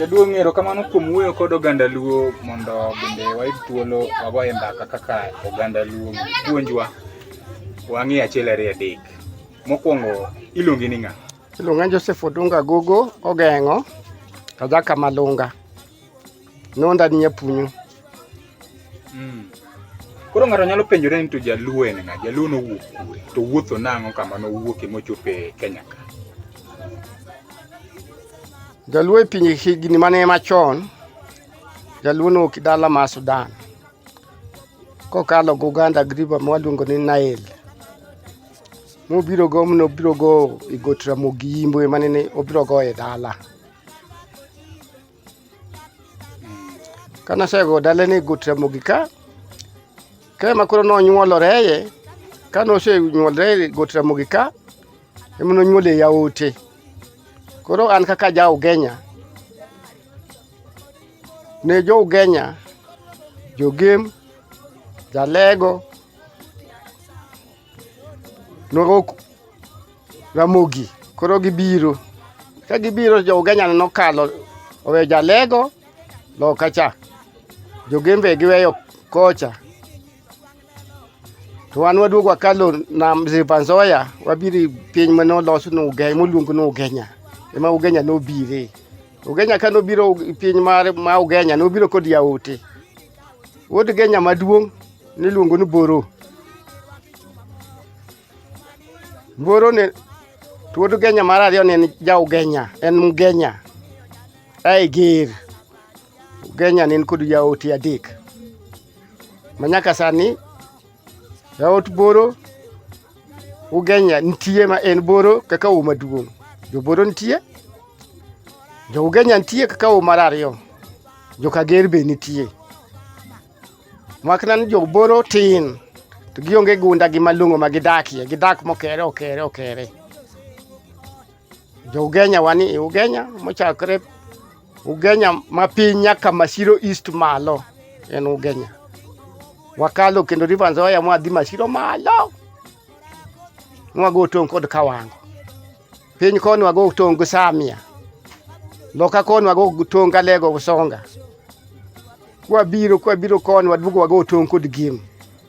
Jaduong' ng'ero kamano kuom wuoyo kod oganda Luo mondo bende wayud thuolo wagoye mbaka kaka oganda Luo puonjwa wang'e achiel ariyo adek. Mokwongo iluongi ni ng'a? Iluonga Joseph Odunga Gogo Ogeng'o, Kajaka Malunga. nonda ni apunyo mm. koro ng'ato nyalo penjore ni to jaluo en ng'a jaluo nowuok kure to wuotho nang'o kama nowuoke mochopo e kenya ka jaluo e pinje higni mane machon jaluo nowuok dala ma sudan kokalo go uganda griba mwaluongo ni nael mobiro go mnobiro go e got ramogi yimbo emanene obiro go e dala Kane osego dalene e got Ramogi ka, ka ema koro nonyuolore ye, kane osenyuolore e got Ramogi ka, ema nonyuole yaote. Koro an kaka ja Ugenya, ne jo Ugenya, jogem, jalego, Nwago Ramogi. Koro gibiro. Ka gibiro jo Ugenya nokalo owe jalego loka cha. Jogembe giweyo kocha. To wan waduogo wakalo nam Zipanzoya wabiri piny mane olos ni Ugenya moluong ni Ugenya. Ema Ugenya nobire. Ugenya ka nobiro piny mar ma Ugenya nobiro kod yaote. Wuod Genya maduong' niluongo ni Boro. Boro ne wuod Genya mar ariyo ne en Jaugenya, en Mgenya. Ae Ger. Ugenya ne en kod jaote adek. Manyaka sani Jaot boro ugenya nitie ma en boro kaka u maduong'. Jo boro nitie. Jo ugenya nitie kaka u mar ariyo. Jo kager be nitie. Makna ni jo boro tin to gionge gunda gi malong'o ma gidakie. Gidak mokere okere okere. Jougenya wani Ugenya mochakre Ugenya ma piny nyaka Masiro East malo en Ugenya. Wakalo kendo River Nzoia mwadhi Masiro malo. Nwago tong' kod Kawango. Piny koni wago tong' gi Samia. Loka koni wago tong' gi Alego Usonga. Kwabiro kwabiro koni waduogo wago tong' kod Gim.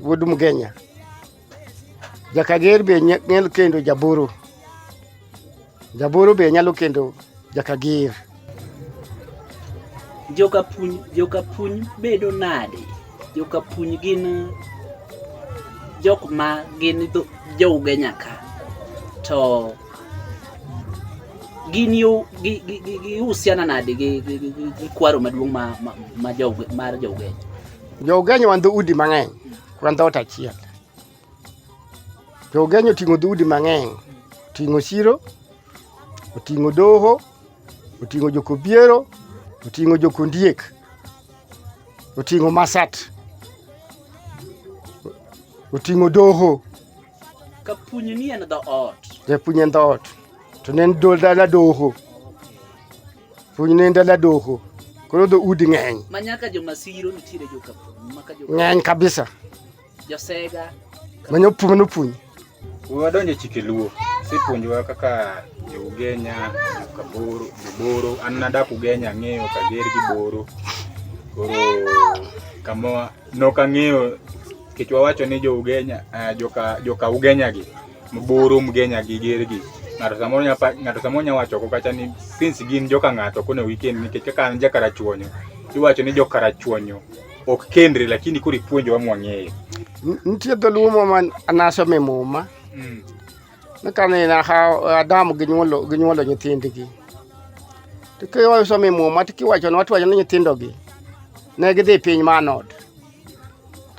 Wuod Mgenya. Jakager be nyalo kendo jaburu. Jaburu be nyalo kendo jakager. Jokapuny, jokapuny bedo nade? Jokapuny gin jok ma gin jo Ugenya ka. To gin yo gihusiana nade gi kwaro maduong' mar jo Ugenya? Jougenyo wan dhoudi mang'eny, wan dhoot achiel. Jougenyo oting'o dhoudi mang'eny, oting'o Siro, oting'o Doho, oting'o Jokobiero, oting'o Jokondiek, oting'o Masat, oting'o Doho. Kapunyi ni en dhoot. Japunyi en dhoot. To ne en dala doho. Punyi ne en dala doho. Koro dho udi ng'eny. Ma nyaka jo masiro nitiere jo kapunyi. Maka jo ng'eny kabisa. Jo sega. Manyo punyi no punyi. Uwa donjo chike luo. Si punyi wa kaka jo ugenya, jo kaboro, jo boro. An nadak ugenya ng'eyo kager gi boro. Koro kama nok ang'eyo Nikech wawacho ni jo Ugenya, uh, joka, joka Ugenya gi, Mburu, Mgenya gi, Ger gi, ng'ato samoro nya pa- ng'ato samoro nya wacho ko kacha ni since gin joka ng'ato kone weekend nikech kaka an ja Karachuonyo, iwacho ni jo Karachuonyo ok kendre lakini koro ipuonjowa mwang'eyo. N- Nitie dholuo moro ma nasome e muma Mm. ni kane na ha- Adam ginyuolo ginyuolo nyithindgi. To kiwacho some e muma to kiwacho ni watiwacho ni nyithindogi ne gidhi piny Manod.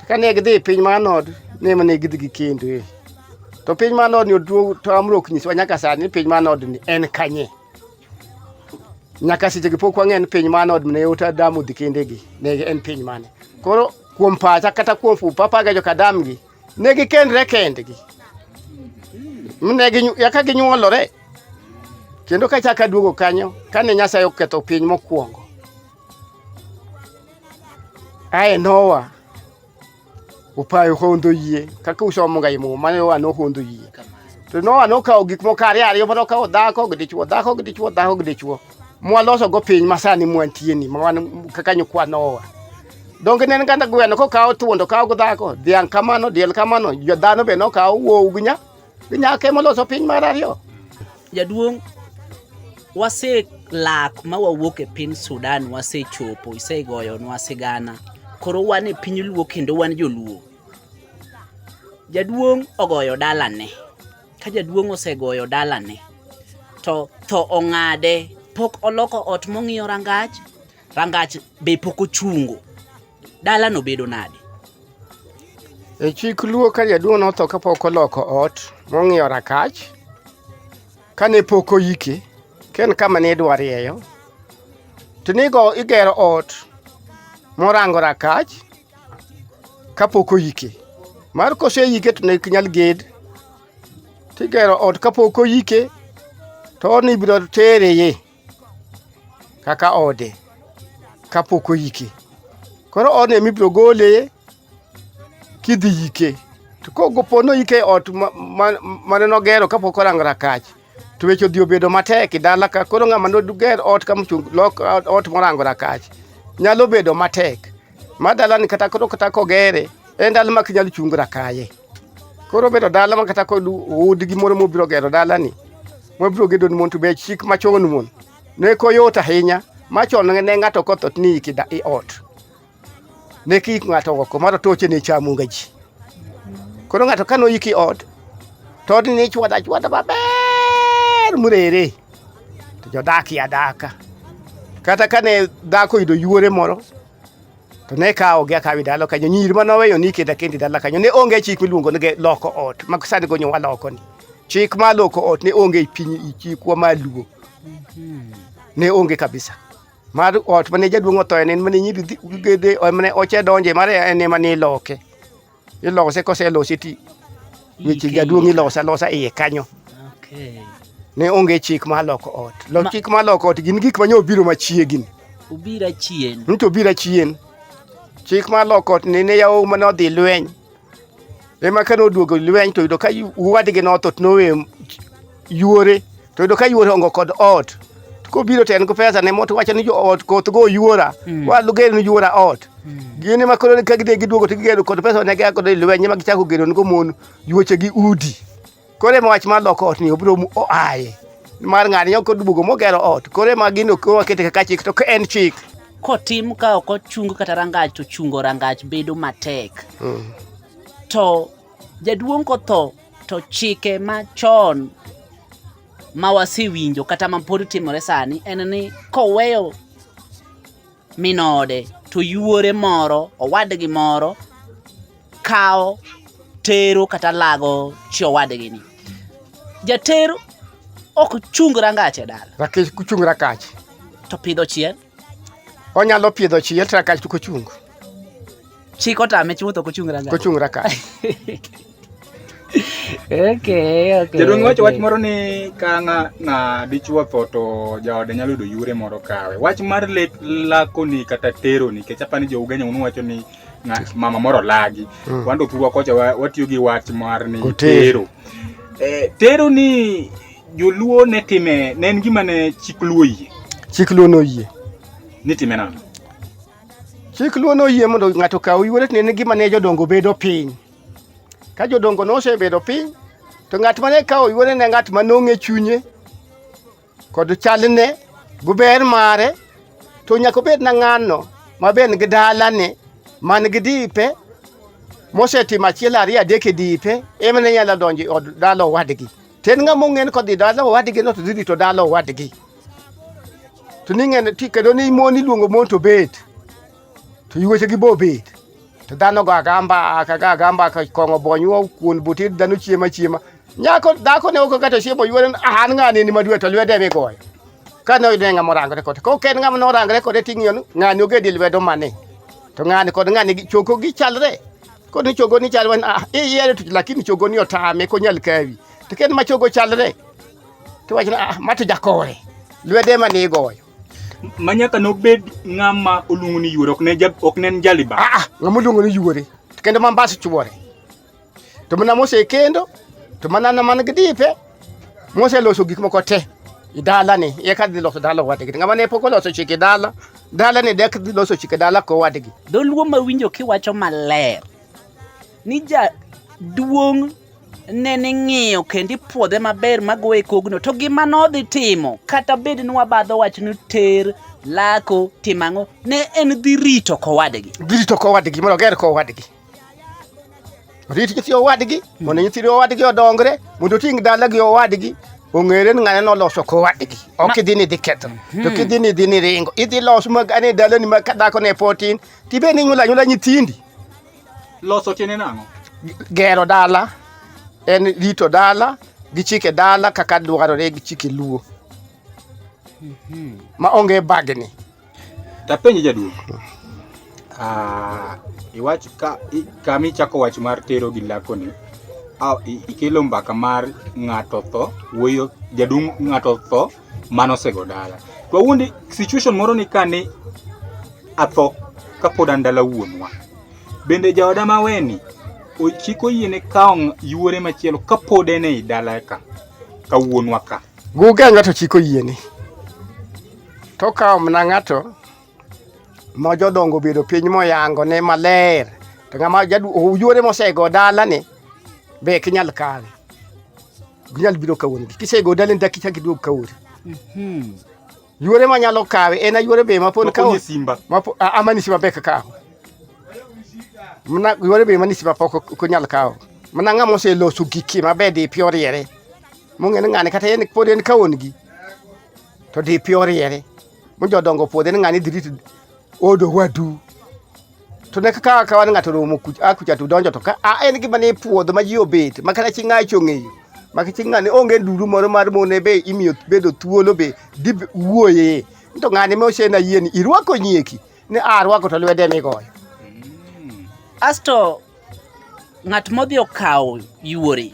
Kane gidhi e piny mar Nod, ne mane gidhi gi kendo e. To piny mar Nod ni oduo to amro ok nyiswa nyaka sani ni piny mar Nod ni en kanye. Nyaka seche gi pok wang'e ni piny mar Nod ne ota damu dhi kende gi ne en piny mane. Koro kuom pacha kata kuom fu papa ga joka dam gi ne gi kendre kendgi. Mne gi yaka gi nyuolore. Kendo ka chaka duogo kanyo kane Nyasaye oketho piny mokwongo. aye nowa upayo hondo yie kaka usomo ga imu mane wa no hondo yie to nowa no kawo gik moko ariyo ariyo mano kawo dhako gi dichwo dhako gi dichwo dhako gi dichwo mwaloso go piny masani mwantie ni mwan kaka nyukwa nowa donge ne nganda gweno ko kawo thuondo kawo go dhako dhiang kamano diel kamano jo dhano be no kawo wuowu gi nya Nyaka ema oloso piny mar ariyo. Jaduong' wase lak ma wawuok e piny Sudan wasechopo, isegoyonwa sigana. Koro wan e piny Luo kendo wan joluo. Jaduong' ogoyo dalane, ka jaduong' osegoyo dalane to tho ong'ade, pok oloko ot mong'iyo rangach. Rangach be pok ochungo. Dala no bedo nade? E chik luo ka jaduong' notho kapok oloko ot mong'iyo rakach kane pok oyike ken kama ne idwa rieyo to nigo igero ot morango rakach kapok oyike mar koseyike to ne ok nyal ged tigero ot kapok oyike to ni ibiro tereye kaka ode kapok oyike. Koro odno ema ibiro gole kidhi yike. To kopo ni oyike e ot mane nogero kapok orango rakach, to weche odhi obedo matek e dala ka. Koro ng'ama noger ot ka mochung' lok ot morango rakach, nyalo bedo matek ma dalani kata koro kata kogere, en dala ma ok inyal chung' rakaye. Koro obedo dala man kata kod udi gi moro mobiro gero dalani mobiro gedo ni mon to be chik machon mon ne koyot ahinya machon ne ng'ato kotho ni iki da i ot ne ki ng'ato oko mar toche ne chamu ga ji koro ng'ato kano iki ot to odni ne chwada chwada maber murere to jodak ya daka kata kane dhako yudo yuore moro to ne kawo gi akawi dala kanyo nyiri ma noweyo ni kenda kendi dala kanyo ne onge chik miluongo ni loko ot ma sani gonyo wa loko ni chik ma loko ot ne onge e piny e chikwa ma luo ne onge kabisa mar ot mane jaduong' othoye ne mane nyiri gede mane oche donje mar en ema ne loke Ilose koselosi ti weche jaduong' ilose alosa iye kanyo. Okay. Ne onge chik ma loko ot. Lo Ma- chik ma loko ot gin gik ma nyo biro machiegni. Ubira chien. Nito obira chien. Chik ma loko ot ne ne yawo ma nodhi lweny. Ema ka noduogo lweny to yudo ka yu- wadgi notho to nowe yuore to yudo ka yuore ongo kod ot kobiro to en gi pesa ne moto wacho ni jo ot koth go yuora mm. wa luger ni yuora ot mm. gini ma koro ka gide giduogo to gigero kod pesa ne gako de lwenye ma gichako gero ngo mon yuoche gi udi kore ma wach ma loko ot ni obiro mu oaye mar ng'ani yo koduogo mogero ot kore ma gino ko wakete kaka chik to en chik kotim ka ok ochung kata rangach to chungo rangach bedo matek mm. to Jaduong' kotho to chike machon ma wasewinjo kata ma pod timore sani en ni koweyo minode to yuore moro owadgi moro kawo tero kata lago chi owadgi ni jater ok chung rangache dala rakech kuchung rakach to pidho chiel onyalo pidho chiye to rakach to kochung chik otame chutho kochung rangach kochung rakach okay, okay, jadong wacho wach moro ni ka ng'a dichuo tho to jaode nyalo yudo yure moro kawe wach mar lek lakoni kata teroni kech apani jo ugenya unu wacho ni mama moro lagi mm. wando thurwa kocha watiyo gi wach mar ni tero eh, tero ni Joluo ne time ne en gima ne chik luo yie. Chik luo noyie. Ni time nang'o? Chik luo noyie mondo ng'ato okaw yuore to ne en gima ne jodongo bedo piny. Ka jodongo nosebedo piny to ng'at mane kawo yuore ne ng'at ma nong'e chunye kod chalne gi ber mare to nyaka obed na ng'ano ma be en gi dalane man gi dipe mosetimo achiel ariyo adek e dipe emane nyalo donjo e od dala owadgi. To en ng'ama ong'en kodhi dala owadgi no to dhi rito dala owadgi. To ni ng'en ti kendo ni mon iluongo mon to bet. To yuweche gi bo bet. To dhano go agamba aka ga agamba ka kong'o bonywa kuon butir dhano chiema chiema. Nyako dhako ne oko kata chiemo yuore an ng'ani ni madwe to lwede mi goyo. Ka ne oyudo ng'ama orangore kode. Ko ken ng'ama norangore kode ting'iyo ng'ani ogedi lwedo mane. To ng'ani kod ng'ani choko gichalre. Ko ni chogo ni chal wan ah, iyiero tich lakini chogo ni otame konyal kawi. To ken ma chogo chalre. To wachna ah, ma to jakore. Lwede ma ni goyo. ma nyaka nobed ng'ama oluongo ni yuore ok ne jab- ok ne en jaliba Ah, ah, ng'ama oluongo ni yuore. To kendo ma mbas chuore. To mana mose kendo to mana na man gi dipe moseloso gik moko te i dalani eka dhi loso dala owadgi ng'ama ne pok oloso chike dala dalani dek dhi loso chike dala kowadgi dholuo ma winjo kiwacho maler ni jaduong' ne ni ng'iyo kendo ipuodhe maber magoyo e kogno to gima nodhi timo kata bed ni wabadho wach ni ter lako timang'o ne en dhi rito kowadgi dhi rito kowadgi mondo oger kowadgi Rit nyithi owadgi mondo nyithiri owadgi odongre mondo oting' dalagi owadgi ong'ere ni ng'ane noloso kowadgi ok idhi ni idhi ketho hmm. to kidhi ni idhi ni ringo idhi los magane dalani ma ka dhako ne potin tibe ni nyula nyula nyithindi loso tiene nang'o gero dala en rito dala gi chike dala kaka dwarore gi chike luo hmm. ma onge bagni Tapenje jaduong'. Ah, iwach ka kama ichako wach mar tero gi lakoni ikelo mbaka mar ng'ato tho wuoyo jaduong' ng'ato tho mano osego dala to awuondi situation moro ni ka ni atho kapod an dala wuonwa bende jaoda maweni ochik oyiene kawo yuore machielo kapod en ei dala ka ka wuonwa ka guga ng'ato chiko yiene to okawo mana ng'ato ma jodongo obedo piny moyango ne maler to ng'ama oyuore mosego dalani be ok inyal kawe ginyal biro kawuono kisego dalani dak ichak iduog kawuono mhm. yuore manyalo kawe en ayuore be mapon kawo amani simba be kakawo mna yuore be mani simba pok ok onyal kawo mna ng'ama oseloso giki maber dipi oriere mong'e ni ng'ani kata en pod en kawon gi to di pi oriere mo jodongo puodhe ni ng'ani dhi rito odo wadu to ne kaka ka wan ng'ato romo a kucha to donjo to ka a en gima ni puodho ma ji obet ma kata chi ng'acho ong'eyo ma chi ng'ani onge nduru moro mar mone be imiyo bedo thuolo be dib wuoye to ng'ani me osena yie ni irwako nyieki ni a rwako to lwede migoyo asto ng'at modhi okawo yuore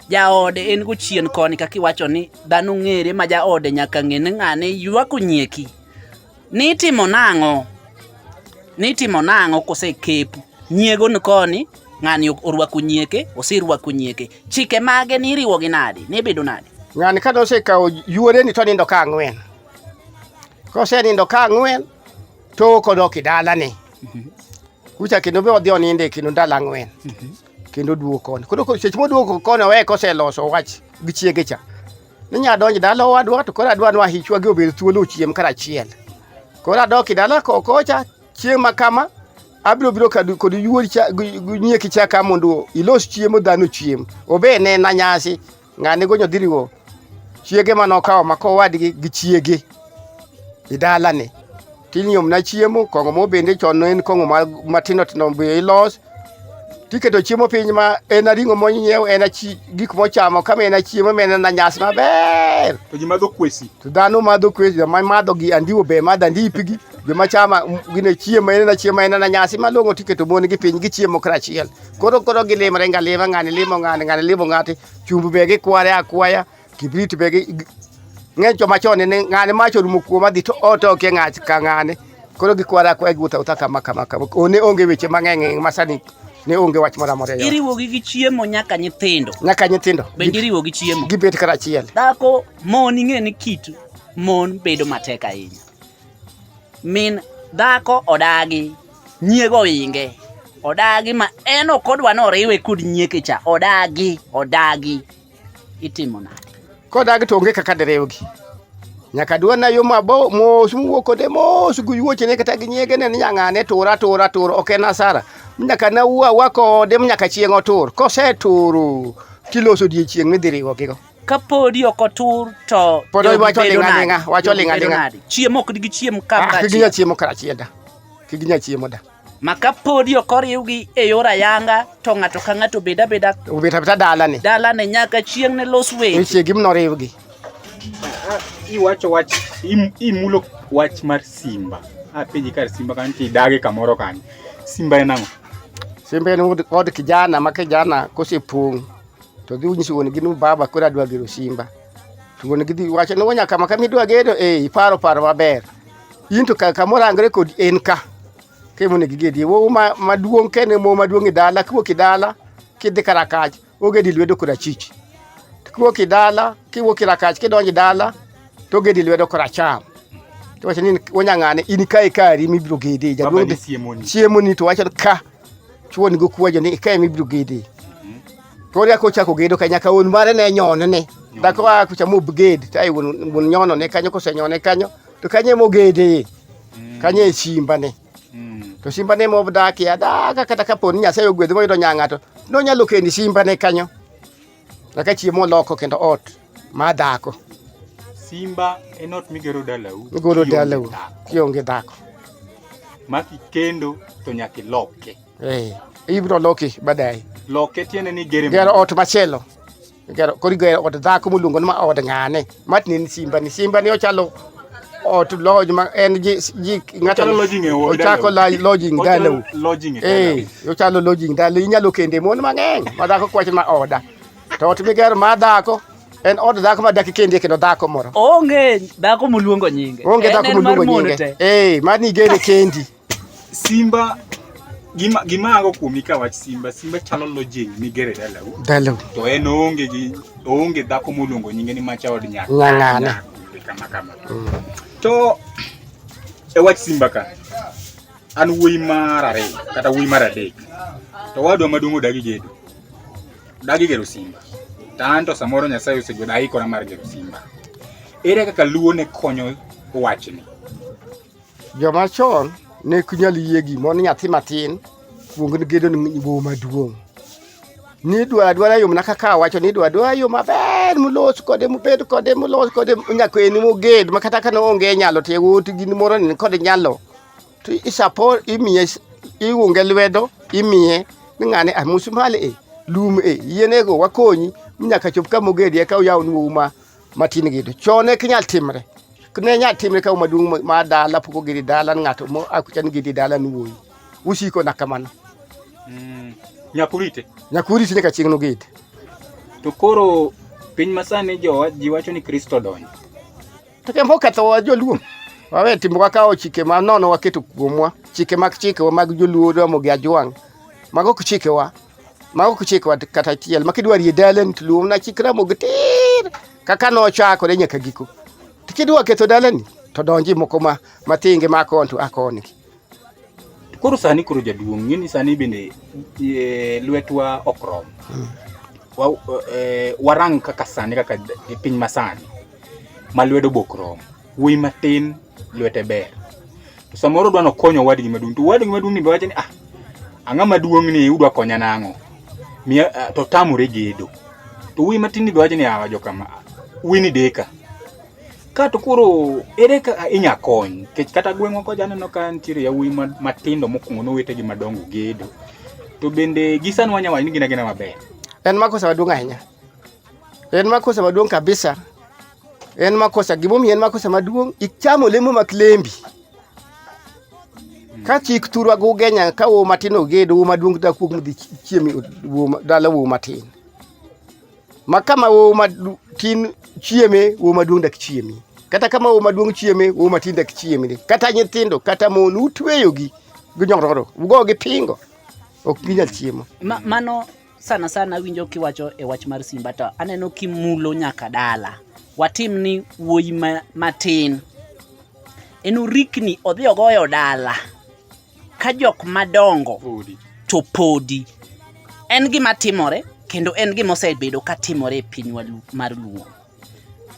jaode en go chien koni kaka iwacho ni dhano ng'ere ma jaode nyaka ng'e ni ng'ane ywako nyieki ni itimo nang'o ni itimo nang'o kosekepu nyiego ni koni ng'ani orwako nyieke oserwako nyieke chike mage ni iriwo gi nade ni ibedo nade ng'ani ka nosekawo yuoreni to nindo ka ang'wen Kosenindo ka ang'wen to kodok e dalane kucha kendo be odhi onindo e kendo ndalo ang'wen kendo oduogo koni. Koro ko- seche moduogo koni owe koseloso wach gi chiege cha ni nya donjo dala owadwa to koro adwa ni wahichwa gi obed thuolo ochiem karachiel. Koro adok e dala ko- kocha chieng' ma kama abiro biro kadu- kod yuori cha gi- gi nyieki cha ka mondo ilos chiemo dhano chiem. Obe nena nyasi ng'ani gonyo dhiriwo chiege ma nokawo ma kowadgi gi chiege e dalani tinyomna chiemo kong'o mo bende chon en kong'o matindo tindo be ilos tiketo chiemo piny ma en aring'o monyiew en gik mochamo kama en achiemo ma en anyas maber to ji madho kwesi to dhano madho kwesi joma madho gi andiwo be madho andipigi joma chama gine chiemo en achiemo en anyasi malong'o tiketo mon gi piny gichiemo karachiel Koro koro gilimre nga lima ng'ani limo ng'ani ng'ani limo ng'ati chumbu be gikware akwaya kibrit be gi ng'eny joma chon ne ng'ani mach orumo kuom adhi to ot ok e ng'ach ka ng'ani koro gikware akwaya giwuotho awuotha kama kama kama one onge weche mang'eny e masani ne onge wach moro amora e iriwogi gi chiemo nyaka nyithindo nyaka nyithindo bende iriwo gi chiemo gibet kar achiel dhako mon ing'e ni kit mon bedo matek ahinya min dhako odagi Nyiego inge. Odagi ma en ok odwa ni oriwe kod nyieke cha. Odagi, odagi. Itimo nade? Kodagi to onge kaka diriwgi. Nyaka dwana yo mabo mos muwuok kode mos gi wuochene kata gi nyiege ne ni nyang'ane tur atur atur ok en asara. Nyaka na wuo awa kode nyaka chieng' otur. Koseturo tiloso odiechieng' midhi riwogigo. Ka podi ok otur to Pod jogi wacho bedo ling'a nade? ling'a, wacho Jogi ling'a bedo ling'a. nade? Chiemo ok digi chiem Ah, kaka ginya chiemo karachiel da. kik ginya chiemo da. Ma ka podi ok oriwgi e yor ayanga to ng'ato ka ng'ato bed abeda Obet abeta dalani. dalane nyaka chieng' ne los weche. Nitie gima noriwgi. iwacho wach im- imulo wach mar simba apenji kar simba kanyo to idage kamoro kanyo simba en ang'o Simba en od, od kijana ma kijana kosepong' to dhi unyiso wuon gi ni baba koro adwa gero simba. To wuon gi dhi wacho ni nyaka ma kama idwa gero eh iparo paro maber. in to ka- kamoro angre kod en ka kemone gi gedi wo ma- maduong' ka en e mo maduong' e dala kiwuok e dala kidhi karakach ogedi lwedo korachich To kiwuok e dala kiwuok e rakach kidonjo e dala to ogedi lwedo koracham to wacho ni wanyang'ane in kae kari mibiro gedi Baba jaduong' ni siemoni. chiemoni to wacho ni ka chuoni go kuwajo ni kae mibiro gedi to oria kochako gedo ka nyaka wuon mare ne nyone ne dhako a kucha mobged to ai wuon wuon nyono ne kanyo kosenyone kanyo to kanye mogede mm. kanye e simbane mm. to simbane modakie adaga kata kapo ni nyasaye ogwedhi moyudo nyang'ato nonyalo kendi simbane kanyo kaka chiemo oloko kendo ot ma dhako simba en ot migero dalau migero dalau kionge dhako ma kikendo to nyaka iloke eh, ibro loki baadaye loke tiende ni gero ot machielo Kero kori gero od dhako moluongo ni ma od ng'ane matni ni simba ni simba ni ochalo ot lodge ma en ji ji ng'ato Ochalo lodging e od ochako la- lodging dala u Lodging e eh ochalo lodging dala inyalo kende mon mang'eny ma dhako kwacho ma oda to ot migero ma dhako en od dhako ma dak kende kendo dhako moro Onge dhako moluongo nyinge. onge En dhako en mar moluongo mon nyinge te. eh mani gere kendi Simba gima gima ago kuomi ka wach Simba, Simba chalo lojing migere dalau. Dalau. To en oonge gi oonge dhako moluongo nyinge ni macha od nyaka. Nyang'ana. Kama kama. Mm. To e wach Simba ka an wuoyi mar ariyo kata wuoyi mar adek to wadwa maduong' odagi gedo dagi gero simba to an to samoro nyasaye osegweda aikora mar gero simba ere kaka luo ne konyo wachni Joma chon ne ok nyal yie gimo ni nyathi matin kuong ni gedo ni bo maduong'. Ni dwa dwara yo mana kaka wacho ni dwa dwara yo maber mulos kode mubed kode mulos kode nyako en moged ma kata ka onge nyalo to yawuot gin moro ni kod nyalo to isapo imiye iunge lwedo imiye ni ng'ane amusmali e lum e yienego wakonyi nyaka chop ka mogedi eka uyaw ni uma matin gitu chon ne kinyal timre ne nyal timre ka maduong' ma dala pok ogedi dala ng'ato mo akucha ni gedi dala ni wuoyi usiko na kamano mm. nyakurite nyakurite nyaka chieng' nogedi to koro piny masani jowa ji wacho ni kristo donjo to kembo kethowa joluo wawe timo wakawo chike ma nono waketo kuomwa chike mag chikewa mag joluo romo gi ajwang' mago ok chikewa mago kuchik wat kata chiel makidwa rie dalen tluom na chikra mog tir kaka no chako de nyaka giko tikidwa ketho dalani to donji moko ma matinge ma kontu akoni koro sani koro jaduong ngini sani bende e, lwetwa okrom hmm. wa, e, warang kaka sani kaka piny masani ma lwedo bokrom Wuoyi matin lwete ber. To samoro odwa nokonyo owadgi maduong'. To owadgi maduong' ni be wacho ni ah ang'a maduong' ni udwa konya nang'o? Miya ah, to tamore gedo. To wuoyi matin ni be wacho ni ah wajo kama. ah, Wuoyi ni deka. Ka to koro ere ka inya kony? Nikech kata gweng'wa koja aneno ka nitiere yawuoyi ma- matindo mokwongo nowetegi madongo gedo. To bende gi sani wanya wacho ni gin agina maber. En makosa maduong' ahinya. En makosa maduong' kabisa. En makosa, gimomiyo en makosa maduong', ichamo lemo mak lembi. Ka chik thurwa go genya ka wo matin oged wo maduong' da kuog mdhi chiemi dala wo matin. Ma kama wo matin chieme wo maduong' dak chiemi. Kata kama wo maduong' chieme wo matin dak chiemi. Kata nyithindo kata mon utweyogi gi nyororo. Ugo gi pingo. Ok ginyal chiemo. Ma, mano Sana sana awinjo kiwacho e wach mar Simba to aneno kimulo nyaka dala. Watim ni wuoyi ma, matin. En orikni odhi ogoyo dala ka jok madongo Odi. to podi. En gima timore kendo en gima osebedo ka timore e pinywa lu- mar Luo.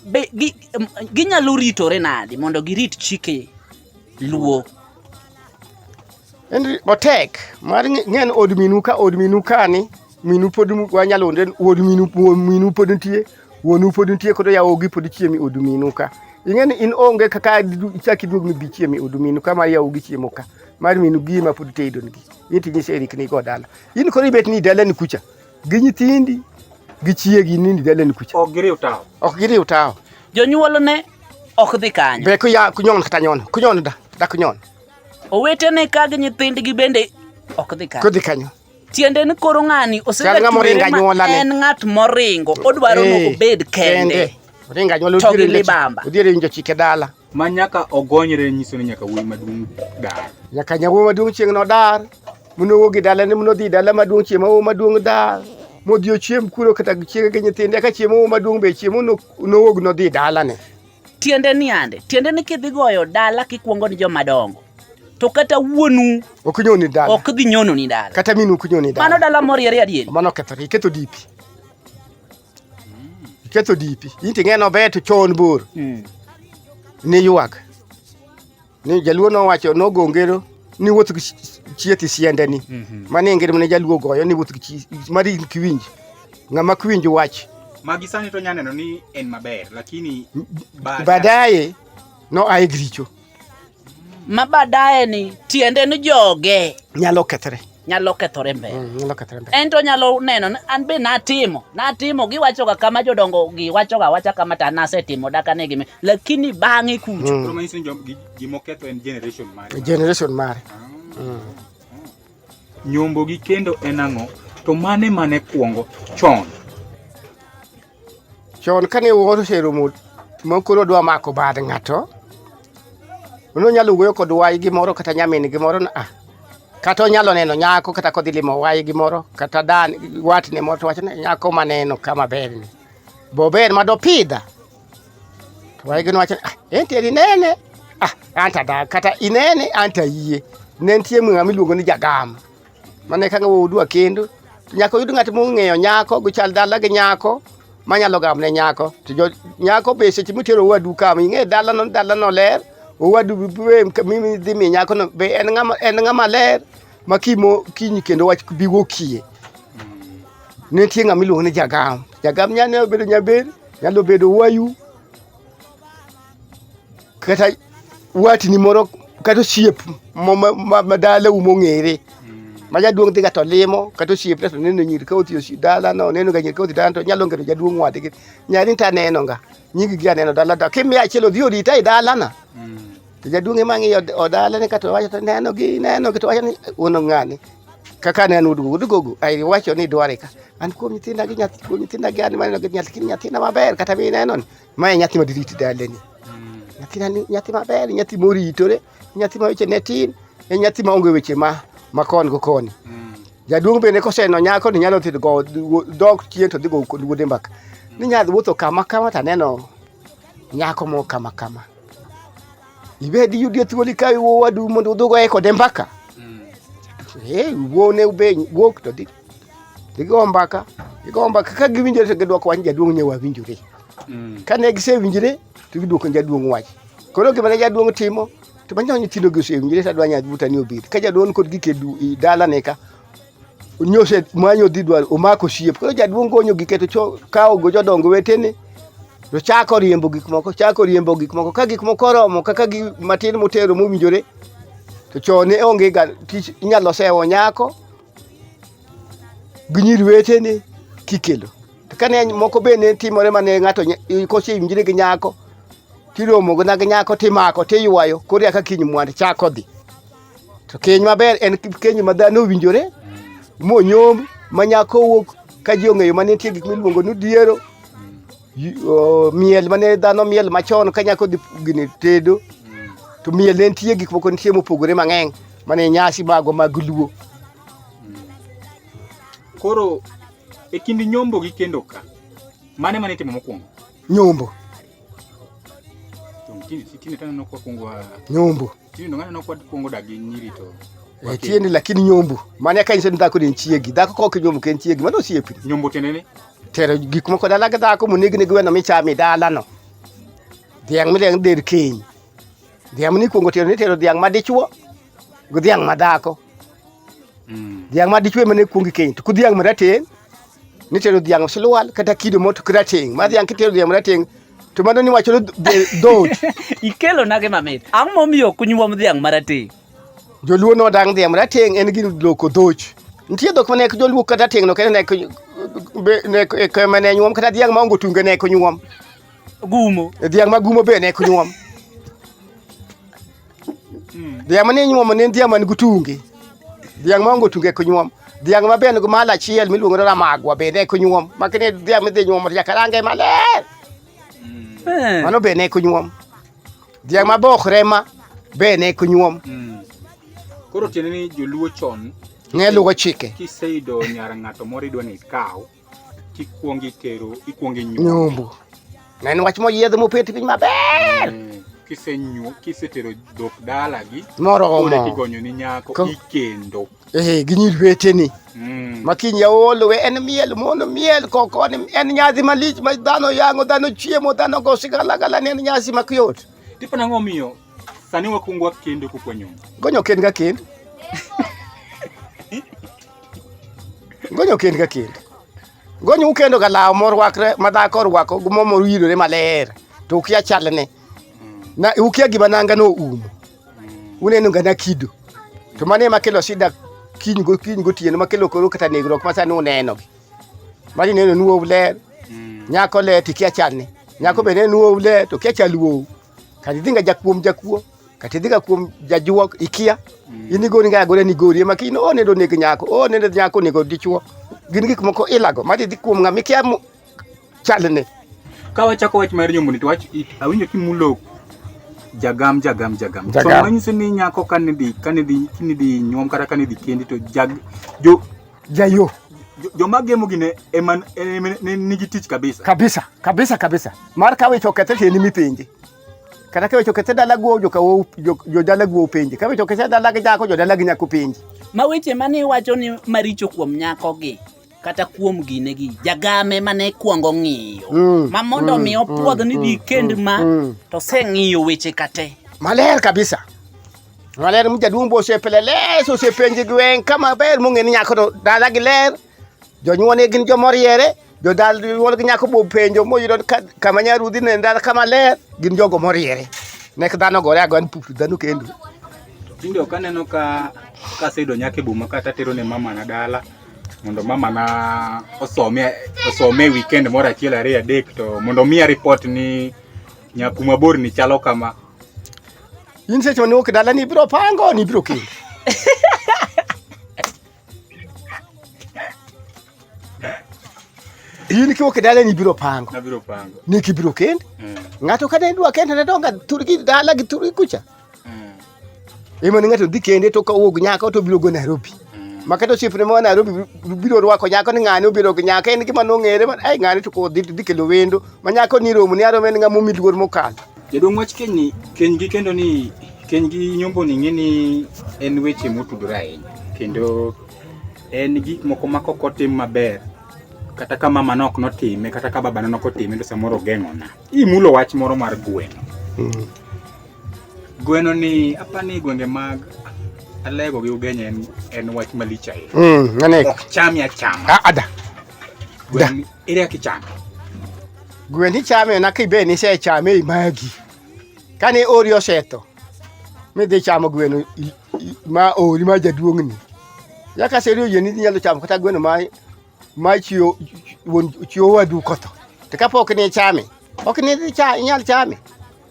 Be gi, em, ginyalo ritore nadi mondo girit chike luo? En otek mar ng'e- ng'en od minu ka od minu kani minu pod mu- wanyalo onde od minu wuon minu pod nitie wuonu pod nitie koro yawogi pod chiemi od minu ka ing'e ni in onge kaka du- ichak iduog mibi chiemi od minu ka mar yawogi chiemo ka mar minu gi ma pod tedonigi in tinyise erikni go dala in koro ibet ni dalani kucha gi nyithindi gi chiegi nindi daleni kucha ok giriw tawo ok giriw tawo jonyuolne ok dhi kanyo be kuya kunyon kata nyon kunyon da da kunyon owetene ka gi nyithindgi bende ok dhi kanyo kodhi kanyo tiende ni koro ng'ani osegaen ng'at moringo odwaro ni obed kende to gi libamba odhiere winjo chike dala ma nyaka ogonyre nyiso ni nyaka wuoyi maduong' dar. Nyaka nyawuoyi maduong' chieng' nodar, monowuog e dalane monodhi dala maduong' chieng' ma wuoyi maduong' dar, modhi ochiem kuro kata chiege gi nyithinde ka chieng' ma wuoyi maduong' be chiemo nowuog nodhi dalane. Tiende ni ande, tiende ni kidhi goyo dala kikwongo ni joma dongo to kata wuonu ok nyoni dala ok dhi nyononi dala kata minu ok nyoni dala mano dala moriere adieri mano kethore iketo dipi ketho dipi inti ng'eno bet chon bor hmm. ni ywak ni jaluo nowacho nogongero ni wuoth gi chieth siendeni mhm. mani ngir mane jaluo goyo ni wuoth gi mari kiwinj ng'ama kiwinj wach magi sani to nyaneno ni en maber lakini baadaye no aye gricho ma baadaye ni tiende ni joge nyalo kethre nyalo kethore mbele mm, nyalo kethore mbele ento nyalo neno ni an be natimo natimo giwachoga kama jodongo giwachoga wacha kama to nasetimo daka ne gimi lakini bang'e kucho mm. promisi ni jom- gi- gimoketho en generation mare generation mare ah. mm. nyombo gi kendo en ang'o to mane mane kwongo chon chon kane wuoro oseromo mokoro odwa mako bad ng'ato nonyalo wuoyo kod wayi gimoro kata nyamin gimoro na ah, kata onyalo neno nyako kata kodhi limo wayi gimoro kata dan watne moro to wachne nyako maneno kama berni bober ma dopidha to wayi gino wachne ah, enti eri nene ah, anta da kata inene anta yie ne nitie ng'ama iluongo ni jagam Mane ka ng'awo udwa kendo nyaka oyud ng'at mong'eyo nyako guchal dala gi nyako manyalo gamne nyako to nyako be seche mutero owadu kama ing'e dalano dalano ler owadu dhi mi nyakono be en ng'ama ler ma kimo kiny kendo wach bi wokie nitie ng'ama iluongo ni jagam jagam nyalo bedo nyaber nyalo bedo wayu kata watni moro kata osiep madalau mong'ere ma jaduong' dhiga to limo kata osiepne to neno nyiri ka othi osi dalano onenoga nyiri ka othi dalano to nyalo ngero jaduong' wadgi nyari to anenoga nyigi gi aneno dala to kimiya achiel odhi orita e dalana to jaduong' ema ng'iyo odalane kato wacho to nenogi nenogi to wacho ni uno ng'ani kaka ne an udugo udugogo ai wacho ni dware ka an kuom nyithinda gi nyathi kuom nyithinda gi an maneno gi nyathi nyathina maber kata mi neno ni Mae nyathi madiriti daleni. Mm. Nyathi nani nyathi maber, nyathi moritore, nyathi ma weche ne tin, en nyathi ma onge weche ma ma kon go koni. Mm. Jaduong' bende koseno nyako ni nyalo thito go dok chien to dhi go kod wuode mbaka. Ni nyadhi wuotho kama kama to aneno nyako mo kama kama. Ibed yudi thuoli ka iwo wadu mondo udhugo e kode mbaka. Mm. Eh, wuone ube wuok to dhi. Dhi go mbaka. Dhi go mbaka ka giwinjore to gidwoko wach jaduong' nyewa winjore. mm. kane gisewinjre to giduoko jaduong' wach koro gima ne jaduong' timo to manyo nyithindo gi osewinjre to adwa nyathi buta ni obed ka jaduong' kod gike dalane ka nyose manyo dhi dwar omako siep koro jaduong' gonyo gike to kawo go jodongo wetene to chako riembo gik moko chako riembo gik moko ka gik moko oromo kaka gi matin motero mowinjore to chone onge ga tich inyalo sewo nyako gi nyiri wetene kikelo to kane moko be ne timore mane ng'ato kosewinjre gi nyako tiromo na gi nyako timako tiywayo koro eka kiny mwand chako dhi to keny maber en keny ma dhano owinjore monyom ma nyako wuok ka ji ong'eyo ma nitie gik miluongo ni diero Oh, miel mane dhano miel machon ka nyako dhi gini tedo to miel ne nitie gik moko nitie mopogore mang'eny mane nyasi mago mag luo koro e kind nyombo gi kendo ka mane mane itimo mokwongo nyombo nyombo Eh, tieni lakini nyombu mane ka inyiso ni dhako ni en chiegi dhako ka ok nyombu ka en chiegi mano osiepni nyombu tiende ni tero gik moko dala gi dhako monegni gi weno michamo e dalano dhiang' midhiang' del kiny dhiang' mane ikwongo tero nitero dhiang' madichwo gi dhiang' madhako mm. dhiang' madichwo ema ne kwongi keny to ku dhiang' marateng' nitero dhiang' silwal kata kido moto kirateng' ma dhiang' kitero dhiang' marateng' To mano ni wacho dhoot. Ikelo nage mamit. Ang'o momiyo ok nyuom dhiang' marateng'? Joluo no dang' dhiang' marateng' en gir loko dhoch. Nitie dhok mane joluo kata teng' no kendo nek nek e kema ne nyuom kata dhiang' ma ongo tunge nek nyuom. Gumo. Dhiang' ma gumo be nek nyuom. Dhiang' mane nyuomo ne en dhiang' man gutunge. Dhiang' maonge otunge ok nyuom. Dhiang' ma bende mal achiel miluongo ni ramagwa bende ok nyuom. Makine dhiang' midhi nyuomo to nyaka range maler. Eh. Mano bende ok nyuom. Dhiang' ma bokre ma bende ok nyuom. Mm. Koro tiende ni joluo chon Ne luwo chike. kiseyudo nyar ng'ato moro idwa ni ikaw Kikwongo itero, ikwongo inyuomo. Nyombo. Na en wach moyiedh mopet piny maber. Eh, Kisenyu, kisetero dhok dalagi, koro Moromo. kigonyo ni nyako Ko- ikendo. Eh, gi nyiri weteni. Mm. ma kiny yaol we en miel mono miel koko en en nyasi malich ma dhano yang'o dhano chiemo dhano go sigalagala ne en nyasi makuyot Tipo nang'o omiyo sani wakwongo wakendo kokwa nyombo? gonyo kend ka kend Gonyo kend ka kend. Gonyo ukendo ka law morwakre ma dhako orwako gi mo morwirore maler to ukia chalne. Na ukia gima nanga no umo. Uneno ga na kido. To mane ma kelo shida kiny go kiny go tieno ma kelo koro kata negruok ma sani uneno gi. Mari neno nuo ler. Nyako le tikia chalne. Nyako be neno nuo le to kia chaluo. Kadi dhinga jakuom jakuo. katidhiga kuom jajuok ikia mm. in igori nga agore ni gori ema kino o nendo neg nyako o nendo nyako nego dichuo gin gik moko ilago ma didhi kuom ng'ama ikia chalne ka wachako wach mar nyomboni to wach awinjo kimulo jagam jagam jagam so manyiso ni nyako kane dhi kane dhi kine dhi nyuom kata kane dhi kendi to jag jo jayo joma gemo gine ema nigi tich kabisa kabisa kabisa kabisa mar kawicho kethe ni mipenje kata kiwecho kese dalaguo jodalaguo upenji kawecho kese dalag nyako jodalag nyako upenji ma weche mane iwacho ni maricho kuom nyakogi kata kuom gine gi jagame mane kwongo ng'iyo mm, ma mondo mm, mi mm, opwodh ni di kend ma to se ng'iyo weche kate maler kabisa maler mjaduong' bosepele les osepenji gwen kama ber mong'e ni nyako to dalagi ler Jonyuolne gin joma riere, jodal nyuolgi nyako bo penjo moyudo kama nyarudhi ne ndal kama ler, gin jogo moriere. Nek dhano gore agoya ni pupu dhano kendo. Tinde ok aneno ka kaseyudo nyaka e boma kata atero ne mama na dala mondo mama na osome osome weekend moro achiel ariyo adek to mondo omiya report ni nyaku mabor ni chalo kama in seche mane wuok dala ni ibiro pango ni ibiro kendo in kiwo kidala ni biro pango na biro pango ni kibiro kend mm. ngato kane dwa kend na donga turki dala gi turki kucha mm. imo ngato dhi kende to kawuok nyaka to biro go Nairobi mm. makato chief ne ma Nairobi biro rwako nyako ni ng'ani obiro gi nyaka en gima nong'ere man ai ng'ani to ko dhi dhi kelo wendo ma nyako ni romo ni aro men ng'amo miluor mokalo Jaduong' wach keny ni keny gi kendo ni keny gi nyombo ni ng'e ni en weche motudore ahinya kendo en gik moko ma kok otim maber kata ka mama nok notime kata ka babana nok otime to samoro ogeng'ona imulo wach moro mar gweno mm. gweno ni apa ni gwenge mag alego gi ugenya en, en wach malich ahinya mm, ok chami achama ah, ada ere kaka ichame gwen ichame na kibe ni se chame imagi kane ori osetho midhi chamo gweno i- i- ma ori ma jaduong'ni yaka seri oyie ni inyalo chamo kata gweno ma ma chiwo wuon- chiwo wadu kotho to kapok ni ichame Ok ni dhi cha inyal chame.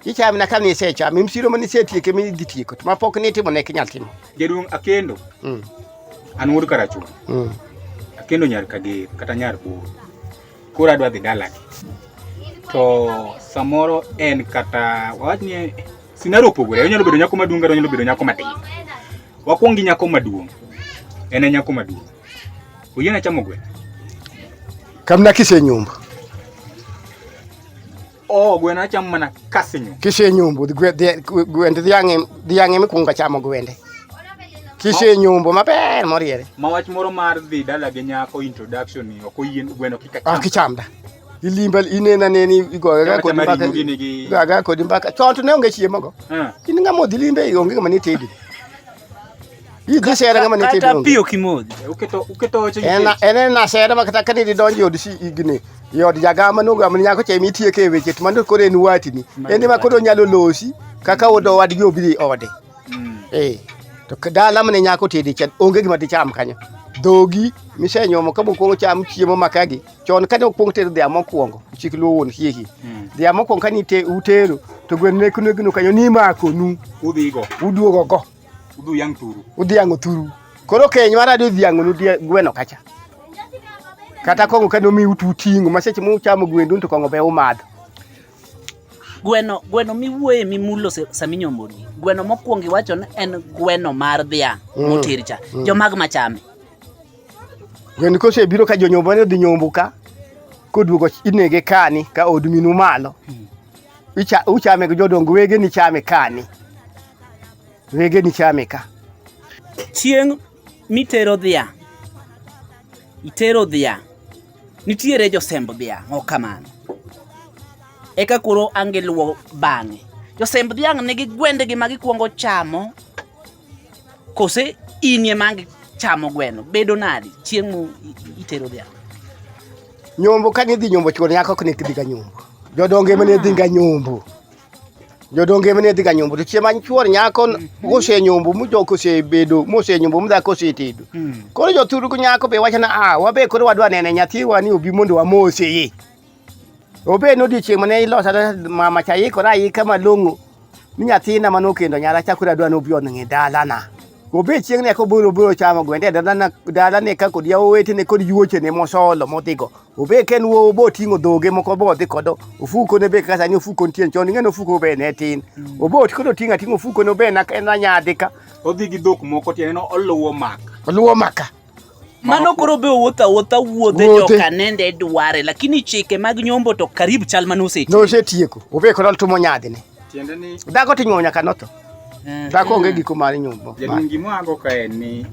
Ichame na kani ise chame. Msiro mani ise tieke mi dhi tieko. Ma pok ni timo ne kinyal timo. Jaduong' Akendo. Mm. An wuod Karachuonyo. Mm. Akendo nyar Kager kata nyar Buru. Koro adwa dhi dalagi. To samoro en kata wawach ni sinaro opogore. Onyalo bedo nyako maduong' kata onyalo bedo nyako matin. Wakwong gi nyako maduong'. En e nyako maduong'. uyena chamogwe kamna kise nyumba o oh, gwena cham mana kase nyumba kise nyumba gwende dhiang'e dhiang'e mikunga chamo gwende kise nyumba maber moriere ma wach moro mar dhi dala gi nyako introduction ni ok oyien gweno kika cham ok chamda ilimba inena neni igoyo ga kodi mbaka ga ga kodi mbaka chon to ne onge chiemo go eh. in ngamo dhi limbe onge ngama ni tedi Hii dhisha ya ngama nitindo. Kata pio kimoja. Uketo uketo oche. Ena ena na sera makata kani di donji od si igni. Yod jagama no gama nyako che mitie ke weche to mando kore ni wati ni. Ende ma koro nyalo losi kaka odo wadgi obiri ode. Mm. Eh. To dala mane nyako tedi chan onge gima dicham kanyo. Dhogi misenyomo ka mokwongo cham chiemo makagi. Chon kane okwongo tedo dhia mokwongo chik luwo wuon hihi. Mm. Dhia mokwongo kani te utero to gwen ne kuno gino kanyo ni mako nu. Udhigo. Uduogo go. Udhiang' turu. Udhiang' oturu. Koro keny mar adi odhiang' nu gweno kacha. Kata kong'o kane omiu tu ting'o ma seche muchamo gwendu to kong'o be umadho. Gweno gweno miwuoye mimulo saminyo modi. Gweno mokwongo iwacho ni en gweno mar dhiang' mm. moter cha. Mm. Jomag machame. Gweno kose biro ka jonyombo ne odhi nyombo ka koduogo inege kani ka odminu malo. Mm. uchame gi jodongo wege ni chame kani wege ni chame ka chieng' mitero dhiang' itero dhiang' nitiere josemb dhiang' ok kamano eka koro angiluwo bang'e josemb dhiang' nigi gwendegi ma gikwongo chamo Kose in ema ang' chamo gweno, bedo nadi chieng' mu itero dhiang'? Nyombo ka nidhi nyombo chuon yako ok nikdhi ga nyombo. Jodonge mane dhi ga nyombo. Jodonge mane dhi ga nyombo to chieng' ma chuon nyako ose nyombo mujoko ose bedo mose nyombo mudhako ose tedo. Koro jothuru nyako be wacho na ah wabe koro wadwa nene nyathiwa ni obi mondo wamose ye. Obed nodiochieng' mane ilosa mama cha ikora ika malong'o mi nyathina mane okendo nyara chakore adwa nobi oning'i dalana. Obed chieng' ne kobiro biro chamo gwende dalana dalane ka kod yawetene kod yuochene mosolo modhigo. Obed ka en wuowo boting'o dhoge moko bodhi kod ofuko ne be kaka sani ofuko nitie chon ing'e ni ofuko be ne tin. Obed koro oting'o ating'o ofuko ne be en anyadhi ka. Odhi gi dhok moko tiende ni oluwo maka. Oluwo maka. Mano koro be owuotho awuotha wuodhe Wuothe. joka nende dware lakini chike mag nyombo to karibu chal mane oseti. Nosetieko. Obe koro tumo nyadhine. Tiende ni Dhako ting'o nyaka notho. Eh, Dhako onge giko mar nyombo. jaduong' gima ago ka en ni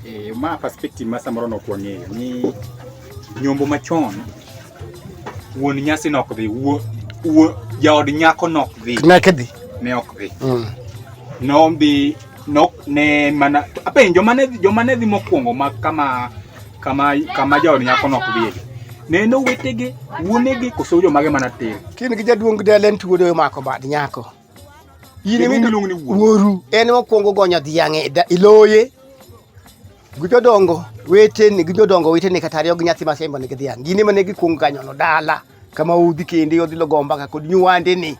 eh, ma perspective ma samoro ne ok wang'eyo ni nyombo machon wuon nyasi nok dhi wuo wuo jaod nyako nok dhi ne kidhi ne ok dhi mm. nombi nok ne mana apenjo mane joma ne dhi mokwongo ma kama kama kama jaod nyako nok dhi ne no wetege wuonege koso jomage mana tir kin gi jaduong' delen tuodo mako bad nyako in ema iluongo ni wuoru wuoru en mokwongo gonyo dhiang' e da- e loye gi jodongo weteni gi jodongo weteni kata ariyo gi nyathi masembo nigi dhiang' gin ema ne gikwongo ganyono dala kama udhi kende odhi logo mbaka kod nyuwandeni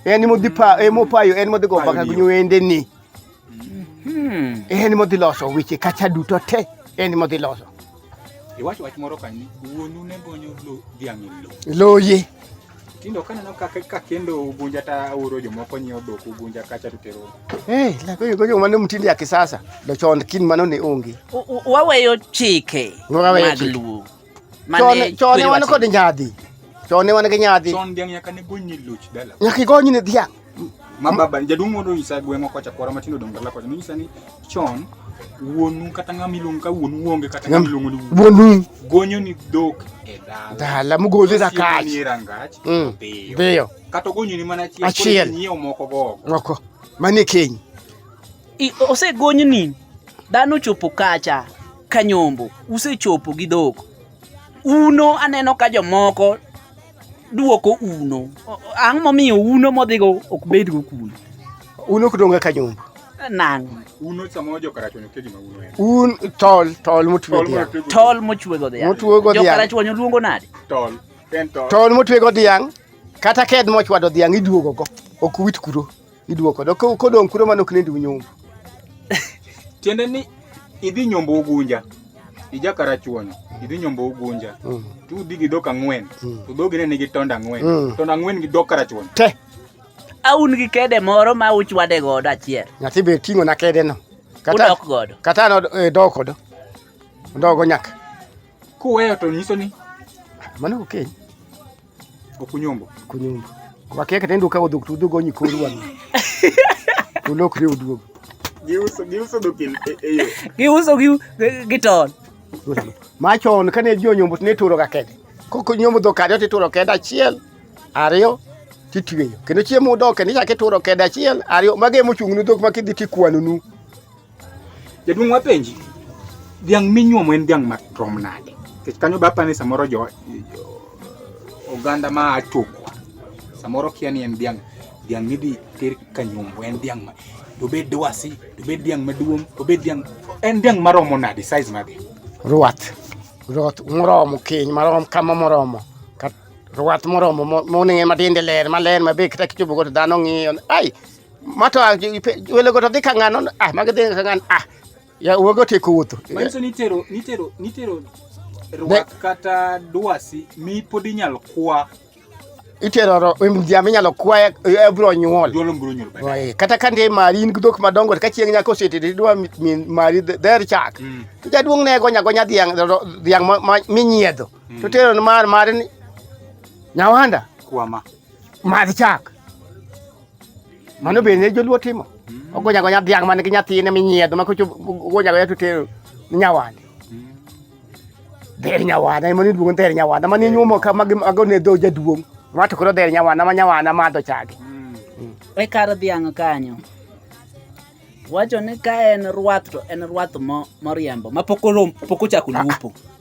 en modhi pa emopayo en modhi go mbaka gi Payoniyo. nyuwendeni Hmm. En modhi loso weche kacha duto te en modhi loso. Iwacho wach moro kanyo wuonu ne gonyo lo dhiang' e lo. Loye. Tindo kaneno kaka ka kendo ugunja ta oro jomoko nyiewo dhok ugunja kacha to tero. Eh, la koyo koyo mano mtinde ya kisasa. Do chon kin mano ne onge. Waweyo chike mag luo. Mane chone wan kod nyadhi. Chone wan gi nyadhi. Chon dhiang' nyaka ne gony ni luch dala. Nyaka igony ni dhiang'. Ma baba jaduong' moro nyisa gweng'wa kocha kwara matindo dongo dala kocha nyisa ni chon wuonu kata ng'ama iluongo ka wuonu wuonge kata ng'ama iluongo ni wuonu gonyo ni dhok e dala dala mugole da kach ni rangach mm. biyo kata gonyo ni mana achiel achiel nyiewo moko go moko mani kiny osegonyni dhano chopo kacha kanyombo usechopo gi dhok uno aneno ka jomoko duoko uno ang' momiyo uno modhigo ok bedgo kuno uno ok donga kanyombo nang' uno samoro jokarachuonyo ke gima uno en un tol tol motwe dhiang' tol mochwe go dhiang' motwe go dhiang' jokarachuonyo luongo nade tol en tol tol motwe go dhiang' kata ked mochwado dhiang' iduogo go ok wit kuro Iduoko do kodong' kuro mano klendi unyumbu. Tiende ni idhi nyombo ugunja. Ija karachuonyo. Idhi nyombo ugunja. Mm. Tu udhi gi dok ang'wen. Mm. To dhogi ne nigi tonda ang'wen. Mm. Tonda ang'wen gi dok karachuonyo. Te. Aun gi kede moro ma uchwade godo achiel. Nyathi be ting'o na kede no. Kata, udok godo. Kata no e, dok godo. Ndogo nyaka. Kuweyo to nyiso ni. Mano okeny. Okay. Okunyombo. Okunyombo. Kwa keke tendo ukawo dok tu dugo nyi koru wano. Ulok riu dugo. Giuso giuso dok eyo. Eh, eh, giuso giu giton. Machon kane jo nyombo ne turo ga kede. Koko nyombo dok ariyo tituro kede achiel. Ariyo titweyo. Kendo chiemo dok kendo ichake turo kede achiel ariyo mage mochung' ne dok ma kidhi tikwano nu. Jaduong' wapenji, dhiang' minyuomo en dhiang' matrom nade? Nikech kanyo bapa ni samoro jo, jo oganda ma atoko samoro kia ni en dhiang' dhiang' midhi ter kanyombo en dhiang' ma dobed dwasi dobed dhiang' maduong' dobed dhiang' en dhiang' maromo nade size mage? Ruath. Ruath moromo keny marom kama moromo. Kat, ruath moromo mo- moning'e matinde ler maler mabe kata kichopo godo dhano ng'iyo. Ai! ma to ah, welogo to dhi ka ng'ano ah magi dhi ka ng'ano ah ya wuogo tieko wuotho manyiso ni itero nitero nitero rwak kata dwasi mi pod inyalo kwa itero mjambe inyalo kwaye ebro nyuol kata ka ndie mari in gidhok madongo ka chieng' nyako oseti tidwa mari dher chak mm. to jaduong' ne gonya gonya dhiang' dhiang' minyiedho mm. to tero mar mari nyawanda kwama madh chak mano bende joluo timo hmm. ogonya gonya dhiang' man gi nyathine minyiedho ma kocho ogonya gonya to tero nyawande hmm. dher nyawanda ema niluongo ni dher nyawanda ma ninyuomo ka mago ne dho jaduong' ma to koro dher nyawanda ma nyawanda madho chage hmm. e kar dhiang' kanyo wacho ni ka en rwath to en rwath moriembo ma pok ochako lupo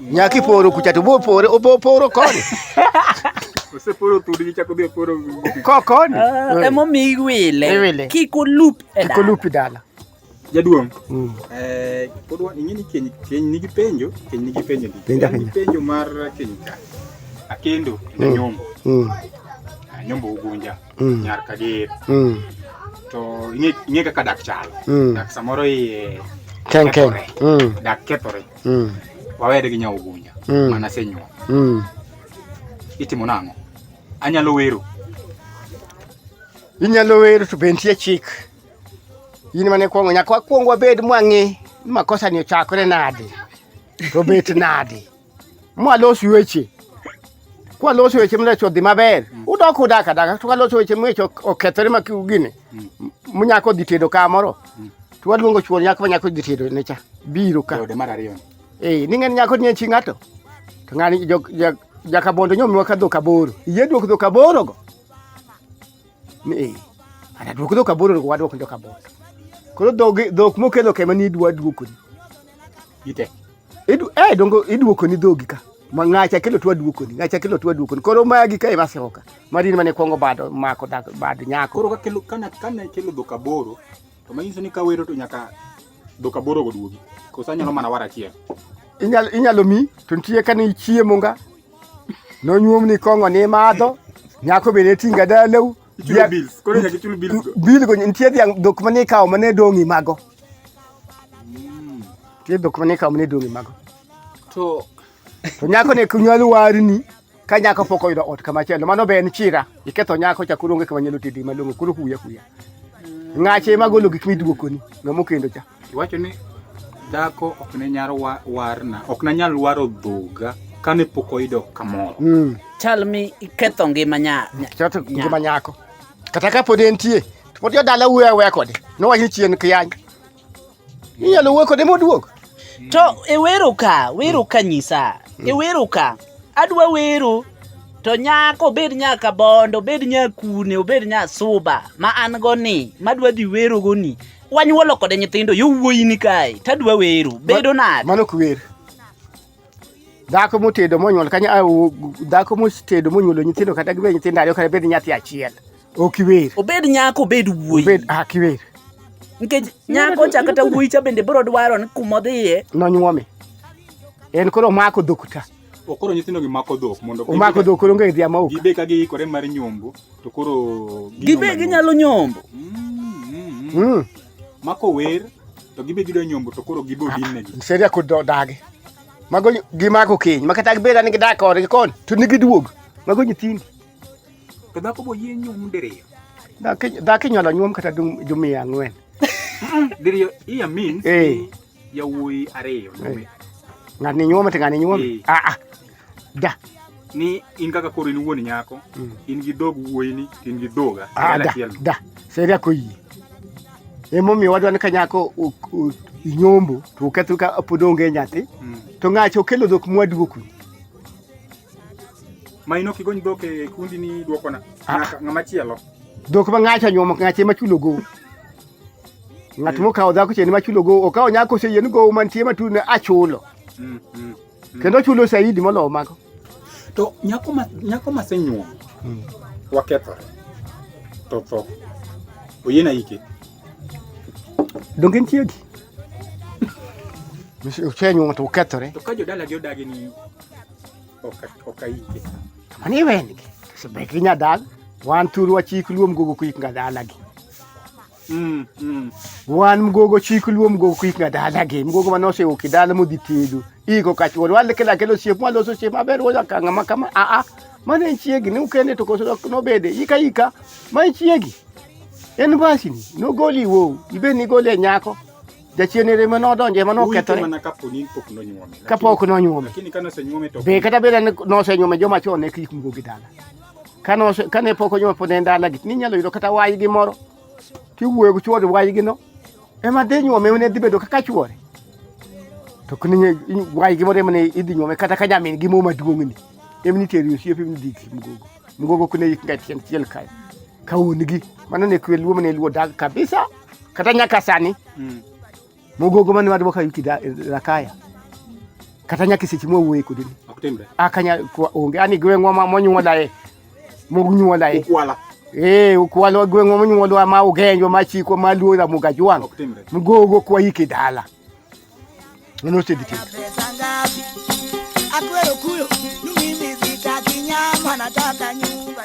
Nyaki poro kucha to bo poro obo poro koni. Ose poro tudi gi chako bi poro. Ko koni. Ah, Emo mi iwile. Iwile. Kiko loop e dala. Kiko loop e dala. Jaduong'. Mm. Eh, pod wan ing'e ni keny keny nigi penjo, keny nigi penjo ndi. Penjo penjo. Penjo mar keny ka. Akendo mm. na nyombo. Mm. Ah, nyombo ugunja. Mm. Nyar kadir. Mm. To ing'e ing'e kaka dak chalo. Mm. Dak samoro iye. Ken ken. Mm. Dak kethore. Mm. mm. wawere gi nyaogunja mm. mana senyuol mm. itimo nang'o anyalo wero inyalo wero to be nitie chik in mane kwongo nyaka wakwong wabed mwang'e ni makosa ni ochakore nade to bet nade mwalos weche kwa loso weche mlecho dhi maber mm. udok udak adaka to waloso weche mwecho okethore ma gini mm. munyako dhi tedo ka moro mm. to waluongo chuor nyako manyako dhi tedo ne cha biro ka ode mar ariyo eh ningen nyako ni chi ngato to ngani jok jak jakabondo nyomiwa ka dhok aboro iye duok dhok aboro go eh ana duok dhok aboro go waduok dhok aboro koro dhok dhok mokelo kema ni dwa duokoni Ite. Idu eh dongo iduoko ni dhogi ka. Ma ngacha kelo twa duoko ni. Ngacha kelo twa duoko ni. Koro magi ka ema sewoka. Marin mane kwongo bado mako dak bad nyako. Koro ka kelo kana kana kelo dhoka boro. To manyiso ni ka wero to nyaka dhoka boro go duogi. Kosa nyalo mana wara achiel. Inyalo inyalo mi to nitie kane ichiemo nga. Nonyuom ni kongo ni madho. Nyako bende tinga dalau. Ichulo bills. Koro nyaka ichul bills go. Bil go nitie dhiang' dhok mane ikawo mane dong'i mago. Ti dhok mane kaw mane dong' e mago. To To nyako ne kunyal warni ka nyako pok oyudo ot kama chielo mano be en chira iketho nyako cha koro onge kama nyalo tedi malong'o koro huya huya ng'ache ema golo gik miduokoni ng'ama okendo cha iwacho ni dhako ok ne nyar wa- warna ok nanyal waro dhoga kane pok oyudo kamoro mm. chal mi iketho ngima nya, nya. chato ngima nyako kata ka pod entie Mo ti dala wuoyo aweya kode. Nowacho ni chien kiyany. Inyalo wuoyo kode moduog. To e wero ka, wero ka nyisa. E wero ka. Adwa wero to nyako obed nyaka bondo, obed nyakune, obed nyasuba ma an go ni, madwa dhi wero go ni. Wanyuolo kode nyithindo yo wuoyi ni kae. Tadwa wero. Bedo nade? Mano ok wer. dhako motedo monyuol kanya dhako motedo monyuolo nyithindo kata gibed nyithindo ariyo kata bed nyathi achiel ok iwer obed nyako obed wuoyi obed ak iwer nikech nyako cha kata wuoyi cha bende biro dwaro ni kuma odhiye nonyuome en koro omako dhok ta okoro nyithindo gi mako dhok mondo omako dhok koro onge dhia ma ok gibe ka giikore mar nyombo to koro gibe ginyalo nyombo mm, mm, mm. mm. mako wer to gibe gido nyombo to koro gibo dinegi ah, seria ko dagi mago gimako keny makata gibeda ni gidak kode gikon to ni giduog mago nyithindi to dhako bo yie nyom diriyo dhako inyalo nyuom kata jumia ang'wen diriyo iya means eh. yawuoyi ariyo eh. ng'ani nyuom to ng'ani nyuom aa eh. ah, ah. Da. Ni in kaka koro in wuon nyako, mm. in gi dog wuoyini, in gi dhoga. Ah, da, da. Seria ko yie. Emomiyo wadwa ni ka nyako inyombo to oketho ka pod onge nyathi mm. to ng'acha okelo dhok mwaduoknu ma ino kigony dhok e kundi ni duokona ah. ng'ama chielo dhok ma ng'acha nyuomo ng'acha ema chulo gowo ng'at mm. mokawo dhako cheni ma chulo gowo okawo nyako oseyien gowo mantie matune achulo mm, kendo chulo shahidi molowo mago. To nyako ma nyako ma senyuom hmm. wakethore to tho oyiena ike donge nitie gi osenyuom to okethore to ka jodala gi odagi ni oka ike mani iwengi to sebeki nyadal wan thuru wachik luom gogo kuik ngadala gi Mm, mm. Wan mgogo chik luo mgogo kik nga dala gi mgogo ma nosewo kidala modhi tedo iko kachuon wale kila kelo siep mwalo so siep maber woja kanga makama a a mane nchiegi ni ukende to koso nobede ika ika ma nchiegi en basi ni nogoli wo ibe ni gole nyako jachien ere ma nodonje ma nokethore kapok nonyuome be kata beda nosenyuome joma chon ne kik mgogo gi dala kane pok onyuol pod en dalagi ninyalo yudo kata waygi moro tiwuoyo gi chuore wayigino ema dhi nyuome mane dhi bedo kaka chuore to waygi moro emane idhi nyuome kata ka nyamin gi mo maduong'ni emni teri osiepe emni dhi mgogo mgogo kune yik nga tieng' chiel kayo ka un gi mano ne kwe luo mane luo dag kabisa kata nyaka sani mm. mugogo mane wadi waka yuti da rakaya kata nyaka seche mwa wuoye kodi ok timre akanya onge ani gweng'wa ma monyuola e monyuola e ukwala eh ukwala gweng'wa monyuola ma ugenjo ma chiko ma luora mugajwang ok timre mugogo kwa yiki dala nono sedi ti akwero kuyo numi mizita kinyama nataka nyumba